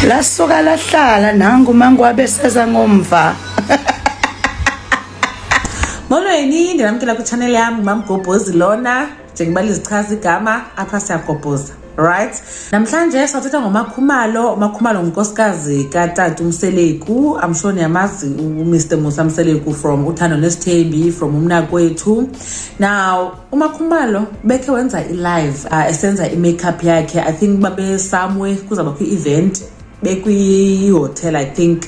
lasuka lahlala nangu mangu abeseza ngomva molweni ndinamkela kwitshanel yam ngumamgobhozi lona njengoba lizichaza igama apha siyagobhoza right namhlanje sathetha ngomakhumalo umakhumalo ngunkosikazi katata umseleku amshoni yamazi umr musa mseleku from uthando nesithembi from umnakwethu now umakhumalo bekhe wenza ilive uh, ah, esenza i-makeup yakhe i think babesamwe kuzaba kwi-event bekwihotel i think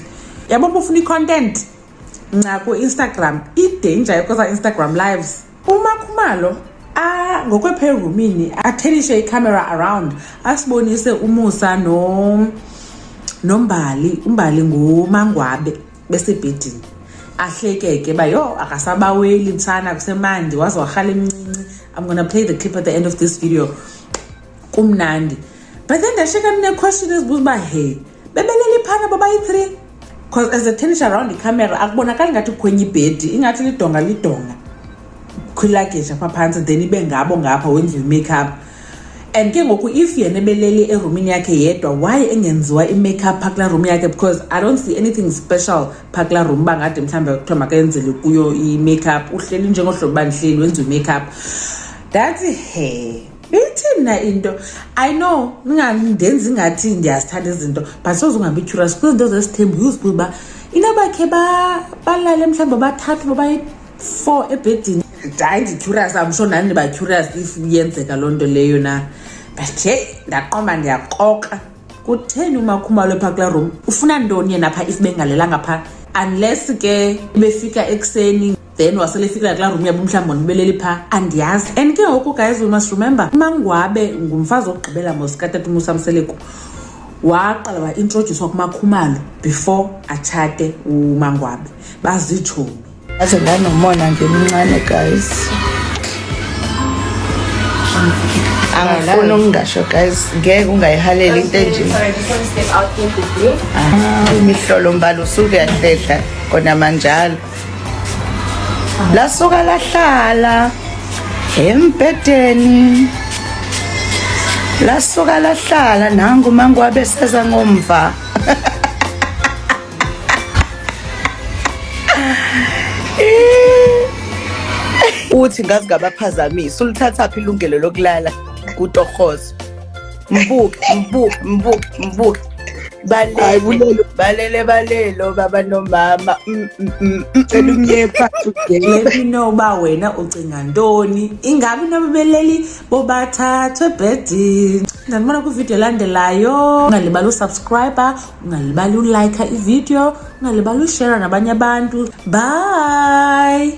yabo bufuna i-content nca ku-instagram idanger yokoza instagram lives umakhumalo ngokwephevumini athelishe icamera around asibonise umusa no nombali umbali ngumangwabe besebhedini ahlekeke uba yho akasabaweli mtshana kusemandi waze warhala emncinci i'm gonna play the clip at the end of this video kumnandi but then ndasheka ndineequestion ezibuza uba he bebeleli phana babayi-three because as a tennis around icamera akubonakali ngathi kukhwenye ibhedi ingathi lidonga lidonga khwilageja pha phantsi then ibe ngabo ngapha wenziwe i-makeup and ke ngoku if yena ebelele erumini yakhe yedwa why engenziwa i-makeup phaa kulaa room yakhe because i don't see anything special phaa kulaa room uba ngade mhlawumbi kuthiwa makayenzele kuyo i-makeup uhleli njengohlobo uba ndihleli wenza i-makeup that's her ithi mna into i know ndenza ingathi ndiyazithanda izinto but soze ungabi curious kuzinto zesithembu uzibuye uba inobakhe balale mhlawumbi bathathu babayi four ebhedini hayi ndicurious am sure nani ndibacurious if yenzeka loo nto leyo na but heyi ndaqomba ndiyakroka kutheni umakhumalo phaa kulaa room ufuna ntoni yena phaa if bengalelanga phaa unless ke befika ekuseni then wasele efikela kulaa room yabo mhlawumbi ndibeleli phaa andiyazi and ke ngoku guys we must remember umangwabe ngumfazi wokugqibela mosikatata umusamseleku waqala waintrodyuswa kumakhumalo before atshate umangwabe bazitshomi aze ndanomona ndimncane guys angifuni ukungasho guys ngeke ungayihaleli into enjini ah, imihlolo mbala usuke yahlehla kona manjalo lasuka lahlala embhedeni lasuka lahlala nangu mangwabe seza ngomva uthi ngazi ngabaphazamisa ulithatha phi ilungelo lokulala kutorhozo mbuke mbuke mbuke mbuke balele balele balelo baba nomama mm, mm, mm, cela umnyepa inoba wena ucinga ntoni ingabi nababeleli bobathathwe ebhedini ndandibona kwividiyo elandelayo ungalibali usubscribe ungalibali ulayikha ividiyo ungalibali ushera nabanye abantu bye